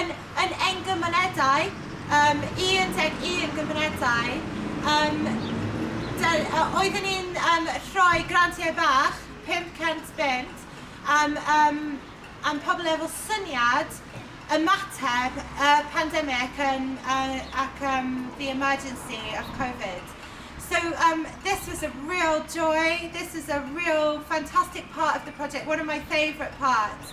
Yn yn ein gymunedau, yym 11 gymunedau, yym dy- yy oeddwn ni'n yym rhoi grantiau bach, 500 bunt, am yym am pobl efo syniad ymateb y pandemig yn yy ac yym the emergency of Covid. So um this was a real joy, this is a real fantastic part of the project, one of my favourite parts.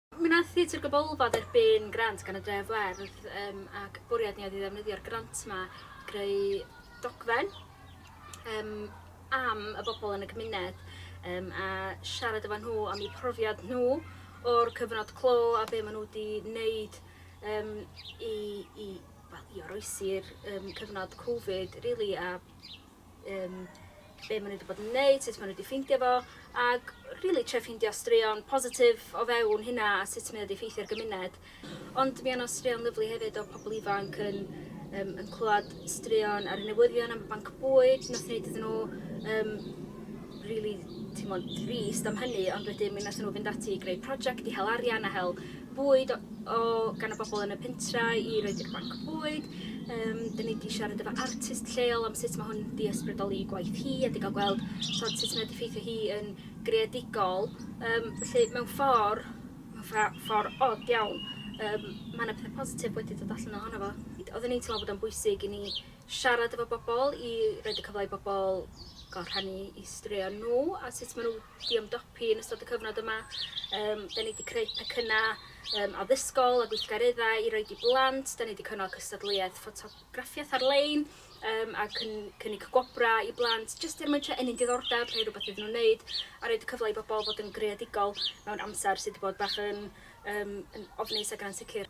Mi wnaeth Theatr Gabolfod erbyn grant gan y Dref Werdd um, ac bwriad ni oedd i ddefnyddio'r grant yma i greu dogfen um, am y bobl yn y cymuned um, a siarad efo nhw am eu profiad nhw o'r cyfnod clo a be maen nhw wedi wneud um, i, i, well, i oroesi'r um, cyfnod Covid, really, a um, be maen nhw wedi bod yn neud, sut maen nhw wedi ffeindio fo, ac really tre ffeindio straeon positif o fewn hynna a sut mae wedi ffeithio'r gymuned. Ond mi yna straeon lyflu hefyd o pobl ifanc yn, um, yn clywed straeon ar y newyddion am y banc bwyd, nath wneud iddyn nhw um, rili timod drist am hynny ond wedyn mi nathon nhw fynd ati i greu prosiect i hel arian a hel bwyd o, o gan y bobl yn y pentra i roed i'r banc bwyd. Um, da ni wedi siarad efo artist lleol am sut mae hwn wedi ysbrydoli i gwaith hi a wedi cael gweld tod, sut mae wedi ffeithio hi yn greadigol. Um, felly mewn ffordd, mewn ffordd od iawn, um, mae yna pethau positif wedi dod allan ohono fo. Oedden ni'n teimlo bod o'n bwysig i ni Siarad efo bobl i roid y cyfle i bobl gael rhannu eu straeon nhw a sut maen nhw wedi ymdopi yn ystod y cyfnod yma. Um, da ni wedi creu pecynnau um, addysgol a gweithgareddau i roed i blant. Da ni wedi cynnal cystadleuaeth ffotograffiaeth ar-lein um, a cyn, cynnig gwobrau i blant jyst er mwyn trio ennyn diddordeb, rhoi rhywbeth iddyn nhw'n wneud a roed y cyfle i bobl fod yn greadigol mewn amser sydd wedi bod bach yn, um, yn ofnus ac yn ansicr.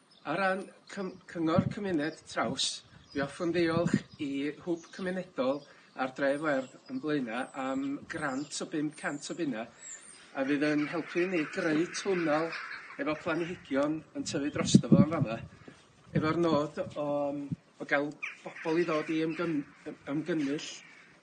Ar ran cym- Cyngor Cymuned Traws mi hoffwn ddiolch i Hwb Cymunedol ar Dref Werdd yn Blaenau am grant o 500 o bunna a fydd yn helpu ni greu twnnel efo planhigion yn tyfu drosto fo yn fama efo'r nod o yym o ga'l bobol i ddod i ymgym- ymgynnull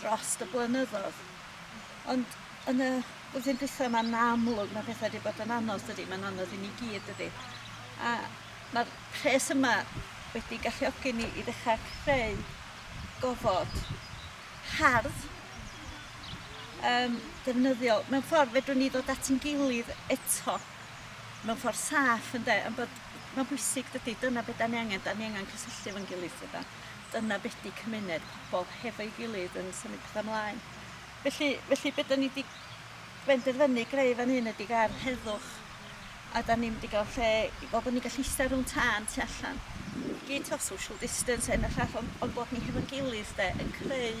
drost y blynyddodd ond yn y flwyddyn dwytha ma'n amlwg ma' petha 'di bod yn anodd dydi? Ma'n anodd i ni gyd dydi? A ma'r pres yma wedi galluogi ni i ddechra creu gofod hardd yym defnyddiol mewn ffordd fedrwn ni ddod at 'yn gilydd eto mewn ffordd saff ynde? Ond bod ma'n bwysig dydi dyna be' 'dan ni angen 'dan ni angen cysylltu efo'n gilydd dydan? Dyna be di cymuned, pobl hefo'i gilydd yn symud petha mlaen. Felly, felly be da ni di benderfynu greu fan hyn ydy gair heddwch a da ni'n mynd i gael lle i fel bod ni'n gallu eistedd rhwng tân tu allan. I gyd to social distance hyn a llall ond, ond bod ni hefo'n gilydd de yn creu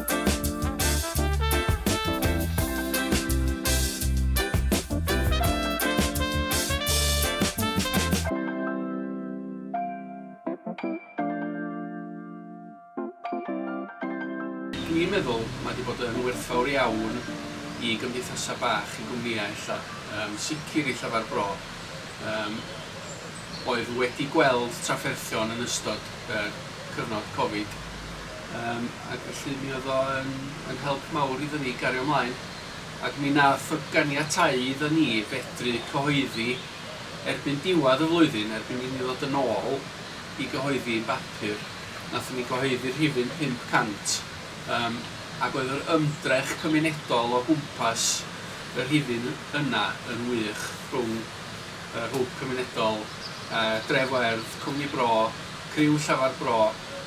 Dwi'n meddwl mae 'di bod yn werthfawr iawn i gymdeithasau bach, i gwmnïau ella, yn sicr i Llyfr Bro, yym, oedd wedi gweld trafferthion yn ystod y cyfnod Covid, Yym ac felly mi oedd o yn yn help mawr iddo ni gario mlaen ac mi nath o ganiatáu iddo ni fedru cyhoeddi erbyn diwadd y flwyddyn, erbyn i ni ddod yn ôl i gyhoeddi yn bapur, nathon ni gyhoeddi rhifyn 500 yym ac oedd yr ymdrech cymunedol o gwmpas y rhifyn yna yn wych rhwng yr hwb cymunedol yy Dref Werdd, Cwmni Bro, criw Llafar Bro,